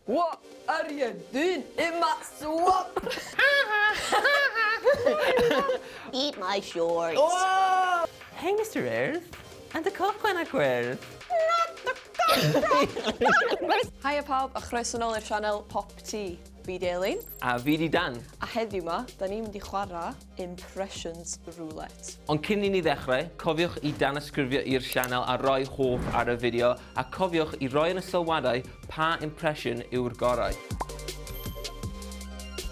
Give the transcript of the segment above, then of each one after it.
What are you doing in my swamp? Eat my shorts. Oh! Hey Mister Urdd and y cochwen a gwyrdd. Not the cochwen! Haia pawb a chroeso nol i'r sianel Pop Tee. Fi di Elin. A fi di Dan. A heddiw ma, da ni'n mynd i chwarae. Impressions Roulette. Ond cyn i ni ddechrau, cofiwch i danysgrifio i'r sianel a roi hoff ar y fideo, a cofiwch i roi yn y sylwadau pa impression yw'r gorau.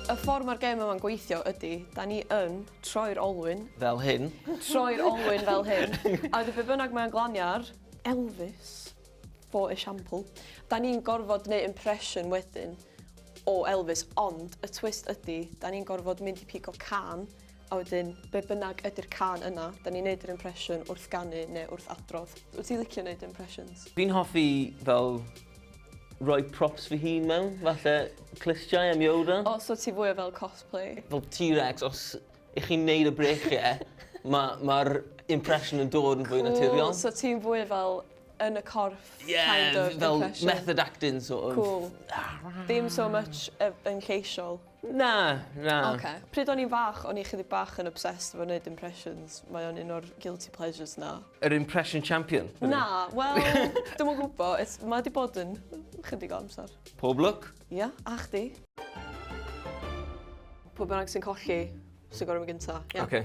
Y ffordd mae'r gêm yma'n gweithio ydy, da ni yn troi'r olwyn... Fel hyn. Troi'r olwyn fel hyn. A wedyn be bynnag mae'n glanio ar, Elvis. For example. Da ni'n gorfod neu impression wedyn o Elvis ond y twist ydi da ni'n gorfod mynd i pigo cân a wedyn be bynnag ydi'r cân yna da ni'n neud yr impression wrth ganu neu wrth adrodd. Wyt ti'n licio neud impressions? Fi'n hoffi fel roi props fy hun mewn, falle clustiau am Yoda. O so ti fwy o fel cosplay? Fel T-Rex os y'ch chi'n neud y breichiau ma' ma'r impression yn dod yn fwy naturiol. Cŵl so ti'n fwy fel yn y corff yeah, kind of fel impression. method acting sort of. Cool. Ddim so much yn lleisiol. Na, na. Okay. Pryd o'n i'n fach, o'n i chydig bach yn obsessed efo wneud impressions. Mae o'n un o'r guilty pleasures na. Yr impression champion? Na, wel, dim o'n gwybod. Mae wedi bod yn chydig o amser. Pob look? Ia, yeah, a chdi. Pob bynnag sy'n colli, sy'n gorau mi gynta. Yeah. Okay.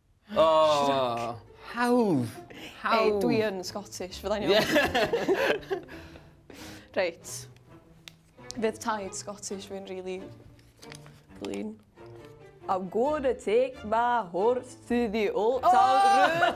Oh, hawdd. Hawdd. Ei, dwi yn Scottish, fyddai'n iawn. Reit. Fydd taid Scottish fi'n really clean. I'm gonna take my horse to the old town road.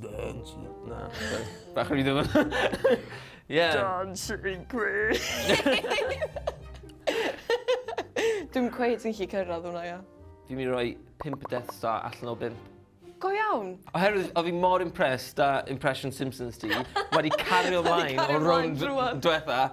Dance with... Na. Bach yn rhywbeth. Ie. Dancing Queen! Dwi'n cweith yn lli cyrraedd hwnna, ia. Dwi'n mynd i roi 5 Death Star allan o 5. Go iawn! Oherwydd, o fi mor impressed da impression Simpsons ti, wedi cario ymlaen o rownd diwetha,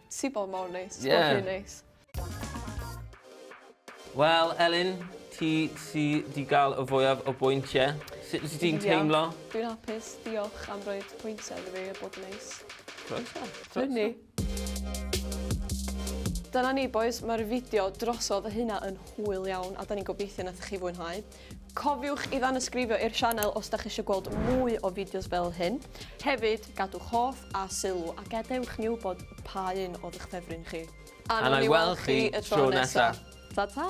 Ti bod mor neis. Ti bod rhy neis. Wel, Elin, ti sy 'di gael y fwyaf o bwyntiau. Sut wyt ti'n teimlo? Dwi'n hapus. Diolch am roi pwyntiau iddo fi a bod yn neis. Croeso. Croeso. ni. Dyna ni bois, mae'r fideo drosodd, y hynna yn hwyl iawn a da ni'n gobeithio nathoch chi fwynhau. Cofiwch i ddanysgrifio i'r sianel os da chi eisiau gweld mwy o fideos fel hyn. Hefyd, gadwch hoff a sylw a gadewch ni wybod pa un oedd eich ffefryn chi. A nawn ni weld chi y tro nesa. Ta ta!